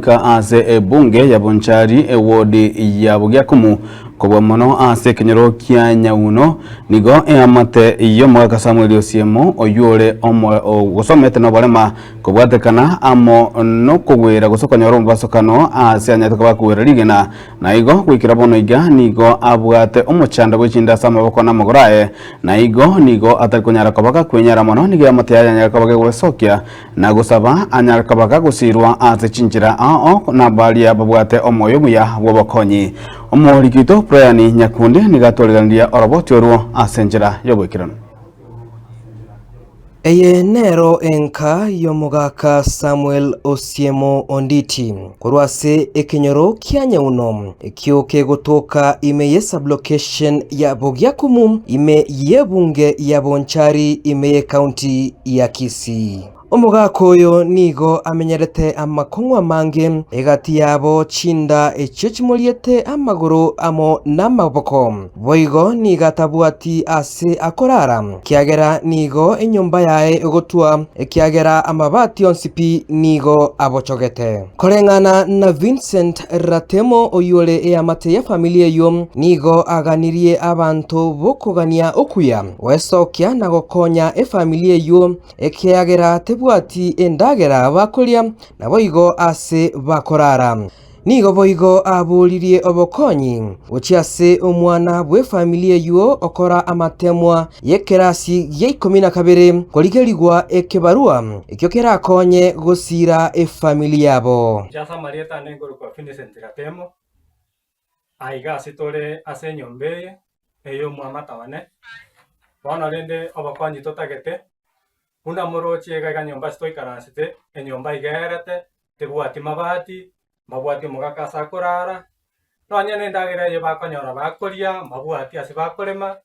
Goika ase ebunge ya Bonchari ewodi ya Bogĩakumu, kobua mono ase ekenyoro kia Nyauno, nigo eamate y'omogaka Samueli Osiemo, oyio ore omo gosomete noborema kobwatekana amo nokogwera gose okonyora omobasokano ase anyeteka bakogwera rigena. Naigo goikera bono iga nigo abwate omochando bw'echinde ase amaboko na amagoro aye, naigo nigo atari konyara koba gakwenyara mono nigo eamate yaye yanyare koba gegwesokia Na gosaba anyare koba gagosiirwa ase chinchera ao nabaria babwate omoyo omuya bw'obokonyi. Omorikito Brian Nyakundi nigo atworiganirie oroboti orwo ase enchera y'oboikeranu. Eye nero enka y'omogaka Samuel Osiemo Onditi. Korwa ase ekenyoro kia Nyauno, ekio kegotoka ime ye sublocation ya Bogiakumu, ime y'ebunge ya Bonchari, ime ye county ya Kisii. Omogaka oyo nigo amenyerete amakong'u amange egati yabo chinda echio chimoriete amagoro amo namaboko. Boigo nigo atabwati aase akoraara, ekiagera nigo enyomba yaye egotwa, ekiagera amabaati onsi pi nigo abochogete. Koreng'ana na Vincent Ratemo oyore eamate ye famili eyio, nigo aganirie abanto b'okogania okuya gwesokia na gokonya efamili eyio ekiagera tebwati endagera bakoria naboigo aase bakoraara. Nigo boigo abooririe obokonyi gochia ase omwana bw'efamili eyio okora amateemwa y'ekerasi gia ikomi na kabere korigerigwa ekebarua ekio kerakonye gosiira efamili yabo. Inche ase amarieta ane nkorokwa Vincent Ratemo, aiga ase tore ase enyomba eye ey'omwamata one, bono rende obokonyi totagete Buna morooche iga iga nyomba ase twaikaransete, enyomba igeerete, tebwati mabati, mbabwati omogaka ase akoraara, nonya nendagera eye bakonyora bakoria, mbabwati ase bakorema,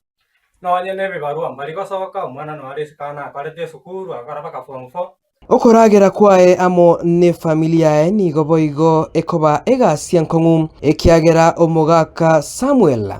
nonya nebibarua mbari gosoka, omwana noare isiko aa nakorete esukuru, agakora mpaka form four. Okoragera kwaye amo nefamili yaye nigo boigo ekoba egasi enkong'u, ekiagera omogaka Samuel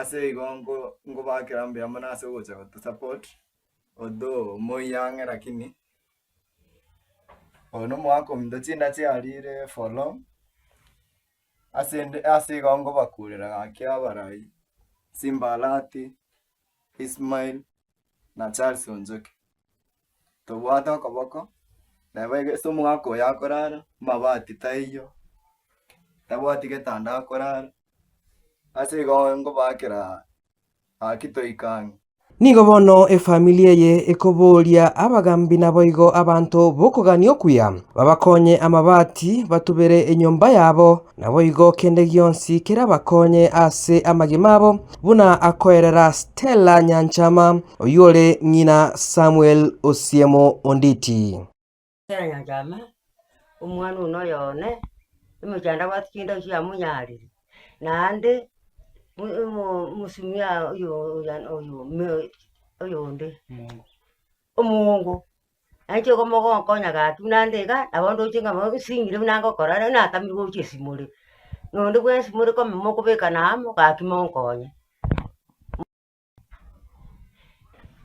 Ase igo nko- nkobakera mbuya mono ase ogocha gotosupport, although moiyang'e lakini oyo na omwaka ominto chindache arire for long, ase ende ase igo nkobakurera gaki abarai, Simba Arati, Ismail, na Charles Onzeki. tobwate okoboko, nabo egese omogaka oyo akorara, amabati taiyo, tabwati getanda akorara, ase igo ngobaakera gaki toika ang'e. Nigo bono efamiri eye ekoboria abagambi naboigo abanto b'okogania okuya babakonye amabati, batubere enyomba yabo, Naboigo kende gionsi kerabakonye ase amagima abo, buna akoerera Stella Nyanchama, oyore ng'ina Samuel Osiemo Onditi. Stella Nyanchama, omwana one oyo one, omochando abwate chinde echio yamonyaarire, naende omo- omo- mosomia oyo oyande oyo oyonde. Omoongo, nainche igo mogonkonya gaki buna nde iga, nabo ndoche ng'a bono nsingire buna ngokora ere, natamire gochia esimore. Nonde buna esimore kome mokobekana amo, gaki monkonye.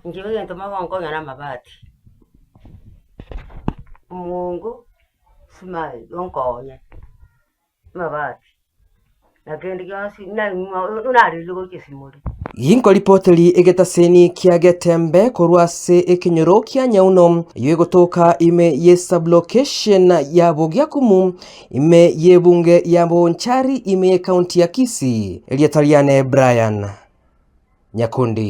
Inche egento mogonkonya namabati, omoongo, esimari, onkonye. Amabati, na kende gionsi naimwa naririire gochia esimori. Yinkoripoteri egetaseni kia getembe korwa ase ekenyoro kia nyauno eyio egotoka ime ye sublocation ya Bogiakumu, ime y'ebunge ya Bonchari, ime y'ekaunti ya Kisii. Erieta riane Brian Nyakundi.